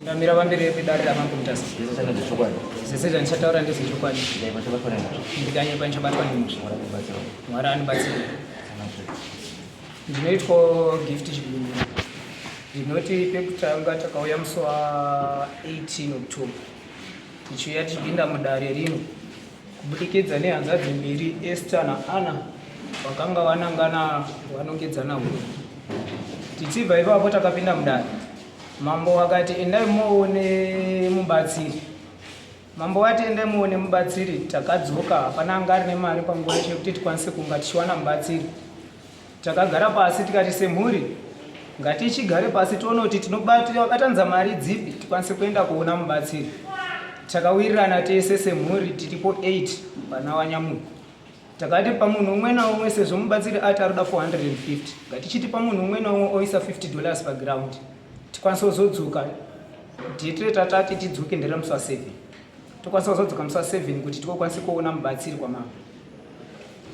Ndamira pamberi pedare ramambo mutasa. Zvese zvandichataura ndezvechokwadi. Ndikanyepa ndichabatwa nemhosva. Mwari andibatsira. Ndinoitwa gift chibindu. Ndinoti pekutanga takauya musi wa 18 October. Tichiuya tichipinda mudare rino kubudikidza nehanzvadzi mbiri Esther naAnna vakanga vanangana vanongedzana huno. Tichibva ipapo takapinda mudare Mambo vakati endai muone mubatsiri. Mambo vati endai muone mubatsiri. Takadzoka hapana anga ari nemari panguva yacho yekuti tikwanise kunga tichiwana mubatsiri. Takagara pasi tikati semhuri ngatichigare pasi tione kuti tinobatanza mari dzipi tikwanise kuenda kuona mubatsiri. Takawirirana tese semhuri tiripo 8 pana Wanyamuku. Takati pamunhu umwe naumwe sezvo mubatsiri ati ari kuda 450 ngatichiti pamunhu umwe naumwe oisa 50 dollars paground tikwanise kuzodzoka date retatati tidzoke nderemusi wa 7 tokwanisa kuzodzoka musi wa 7 kuti tikokwanise kuona mubatsiri kwamama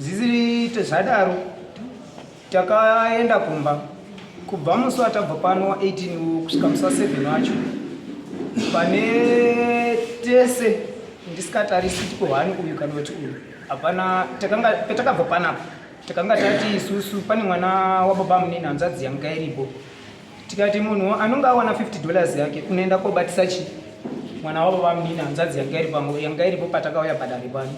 zviziite zvadaro Takaenda kumba kubva musi watabva pano wa 18 kusvika musi wa 7 wacho pane tese ndisikatarisi kuti kohani uyu kana kuti uyu hapana petakabva panapa takanga tati isusu pane mwana wababa munini hanzvadzi yanga iripo tikati munhu anonge awana 50 dollars yake unoenda kobatisa chii mwana wavo vamunini hanzvadzi yanga iri pango yanga iripo patakauya padare pano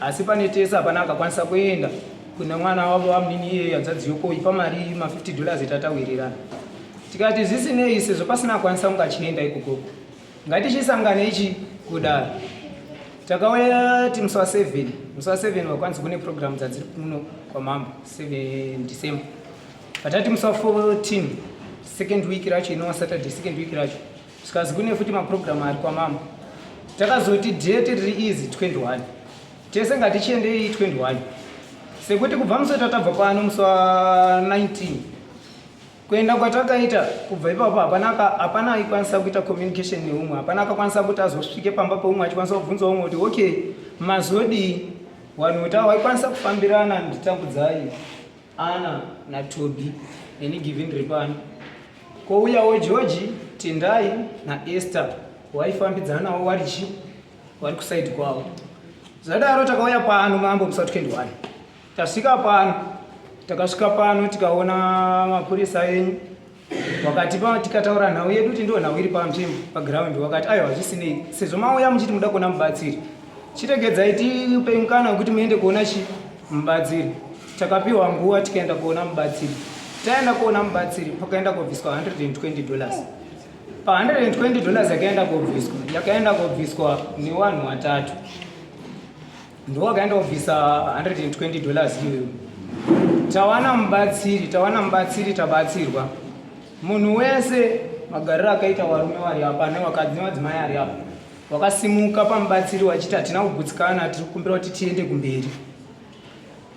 asi pane tese hapana akakwanisa kuenda kune mwana wavo vamunini iyeyo hanzvadzi yoko ipa mari ma50 dollars tatawirirana tikati zvisinei sezvo pasina akwanisa kunge achienda ikoko ngatichisangane ichi kudaro takauya ti musi wa 7 musi wa 7 wakwanisa kune programu dzadziri kuno kwamambo 7 december patati musi wa 14 second week racho inowa saturday second week racho zvikazi kune futi maprogramu ari kwamama takazoti date riri izi 21 tese ngatichiendei 21 sekuti kubva musota tabva pano musi wa 19 kuenda kwatakaita kubva ipapo hapana hapana aikwanisa kuita communication neumwe hapana akakwanisa kuti azosvike pamba peumwe achikwanisa kubvunza umwe kuti okay mazodii wanhu kuti awaikwanisa kufambirana nditambudzai Ana naTobi neni Givin Ripani kouyawo George Tendai naEsther waifambidzanawo warichi wari kusaidi kwavo zvadaro takauya pano mambo musa 21 tasvika pano takasvika pano tikaona mapurisa enyu wakati pa tikataura nhau yedu kuti ndiwo nhau iri panzvimbo paground wakati aiwa hazvisinei sezvo mauya muchiti muda kuona mubatsiri chiregedzai tiupei mukana wekuti muende kuona chi mubatsiri takapiwa nguva tikaenda kuona mubatsiri taenda kuona mubatsiri pakaenda kobviswa 120 dollars pa 120 dollars yakaenda kobviswa yakaenda kobviswa newanhu watatu ndowakaenda kubvisa 120 dollars iyoyo tawana mubatsiri tawana mubatsiri tabatsirwa munhu wese magariro akaita warume wari apa nevakadzi nevadzimai ari apa wakasimuka pamubatsiri wachiti hatina kugutsikana tiri kukumbira kuti tiende kumberi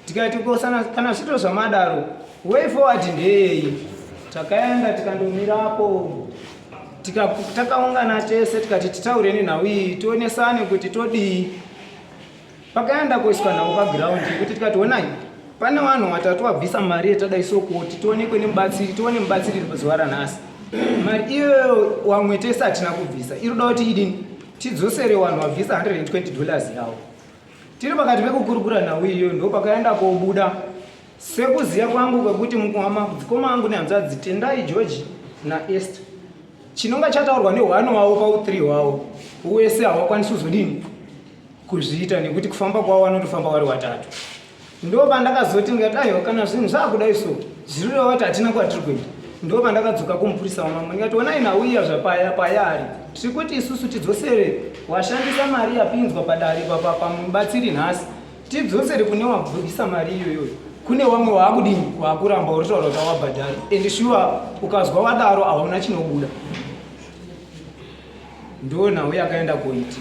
tikati ko sana- kana zvito zvamadaro way forward ndeyei takaenda tikandomirapo Tika- takaungana tese tikati titaure nenhau iyi tionesane kuti todii pakaenda kuiswa nhau pagiraundi kuti tikati honai pane vanhu vatatu vabvisa mari yetadai so kuti tionekwe nemubatsiri tione mubatsiri zuva ranhasi mari iyoyo wamwe tese hatina kubvisa iri kuda kuti idini tidzosere vanhu vabvisa 120 dollars yavo Tiri pakati pekukurukura nhau iyoyo ndopakaenda kobuda sekuziva kwangu kwekuti mukwama dzikoma angu nehanzvadzi tendai george naester chinonga chataurwa nehwano wavo pauthree hwavo wese hawakwanisi kuzodini kuzviita nekuti kufamba kwavo vanotofamba wari watatu ndoba ndakazoti ndikadaiwo kana zvinhu zvakudai so zvirireva kuti hatina kwatiri kuenda ndoba ndakadzoka kumupurisa wamambo ndikati onai nauya zvapaya payari tiri kuti isusu tidzosere washandisa mari yapinzwa padare pamubatsiri nhasi tidzosere kune wabvugisa mari iyoyoyo kune wamwe waakudini waakuramba uritaura kuti awabhadhari and shuwa ukazwa wadaro hauna chinobuda ndonhau yakaenda koiti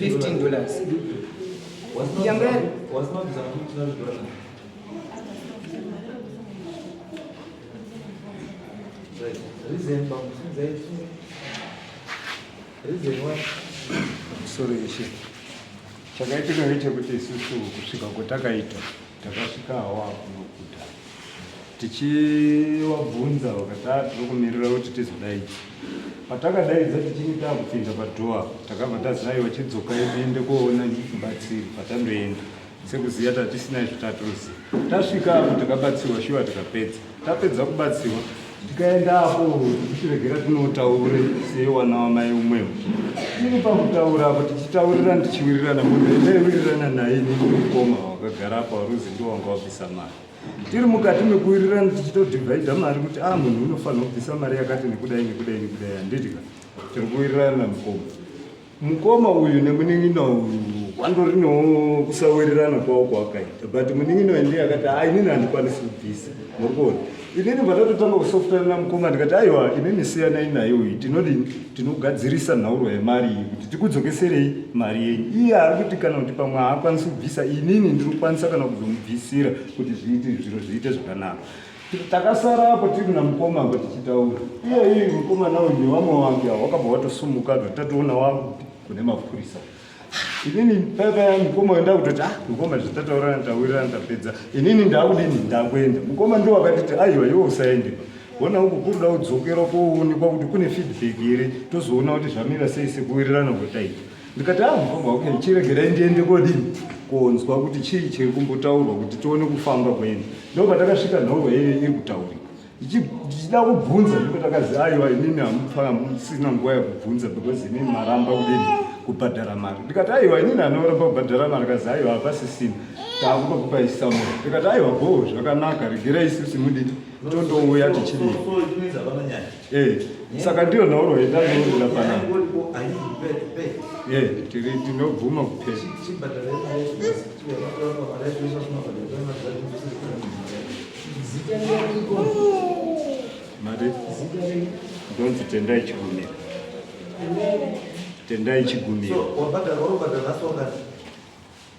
15 dollars sorry chakaitika ngechekuti isusu kusvika kwatakaita Takasvika hawa kunokuda tichivabvunza vakati ah, tiri kumirira kuti tizodaidza. Patakadaidza tichinge takupinda padhoa takabva tazi aiwa chidzokai tiende koona mubatsiri patandoenda sekuziva tatisina izvo tatoziva. Tasvika apo takabatsirwa shuwa tikapedza. tapedza kubatsirwa tikaenda apo tichiregera tinotaure sewana wamai umwewo tiri pakutaura apo tichitaurira ndichiwirirana munhu endaiwirirana naye nemukoma wakagara apo waruzi ndo wanga wabvisa mari tiri mukati mekuwirirana tichitodhivhaidha mari kuti a ah, munhu unofanira kubvisa mari yakati nekudai nekudai nekudai handidika tiri kuwirirana namukoma mukoma uyu nemunin'ina uyu wandorinawo kusawirirana kwavo kwawakaita but munin'ina uyu ndiye akati a inini handikwanisi kubvisa muri kuona inini pandatotanga kusofutana namukoma ndikati aiwa inini siyanai naye uyu tinodi tinogadzirisa nhauro yemari iyi kuti tikudzokeserei mari yenyu iye ari kuti kana kuti pamwe haakwanisi kubvisa inini ndinokwanisa kana kuzomubvisira kuti zviiti zviro zviite zvakanaka Takasara apo tiri kuna mukoma apo tichitaura. Iye iye mukoma nawo ni wamwe wangu awo wakabva watosumuka zvotatoona wangu kune mapurisa. Inini papa ya mukoma wenda kutoti ah mukoma zvitataura ndawira ndapedza. Inini ndakudini ndakwenda. Mukoma ndo wakatiti aiwa iwe usaende. Wona uku kuruda udzokera kounikwa kuti kune feedback here tozoona kuti zvamira sei sekuwirirana kutaita. ndikati ah mukoma okay chiregerai ndiende kodini konzwa kuti chii chiri kumbotaurwa kuti tione kufamba kwenyu ndo patakasvika nhoro yeye iri kutaurika ndichida kubvunza ndipo takazi aiwa inini hamusina nguva yekubvunza because inini maramba kudini kubhadhara mari ndikati aiwa inini anoramba kubhadhara mari kazi aiwa hapasisina taakupa kupaisa mu ndikati aiwa boo zvakanaka regerai sisi mudidi tondouya tichidii Eh, saka ndiyo nhauro yendanourira pana eh, tiri tinobvuma kupera mari ndonzi tendai chigumira tendai chigumira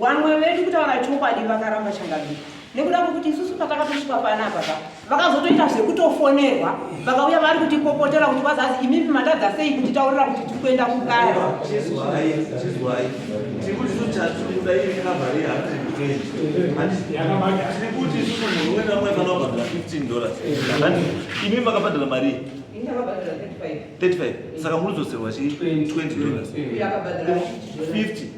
Vamwe vedu kutaura chokwadi vakaramba changamire nekuda kwekuti isusu patakatosvika panapa pa vakazotoita zvekutofonerwa vakauya vari kutipopotera kuti vazazi imimi matadza sei kutitaurira kuti tiri kuenda kugara imi makabhadhara marii 35 saka muri dzoserwa chii 20 dollars 50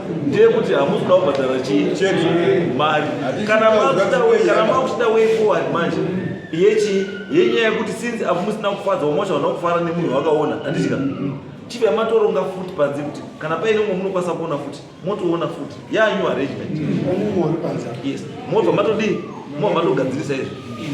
ndeyekuti hamusi kuda kubhadhara chii mari kana makuchida way forward manje yechii yenyaya yekuti since apo musina kufadza wamosha vana kufara nemunhu wakaona handitika chivi amatoronga futi panze kuti kana paine umwe munokwanisa kuona futi motoona futi yanew arrangement yes mobva matodii mobva matogadzirisa izvi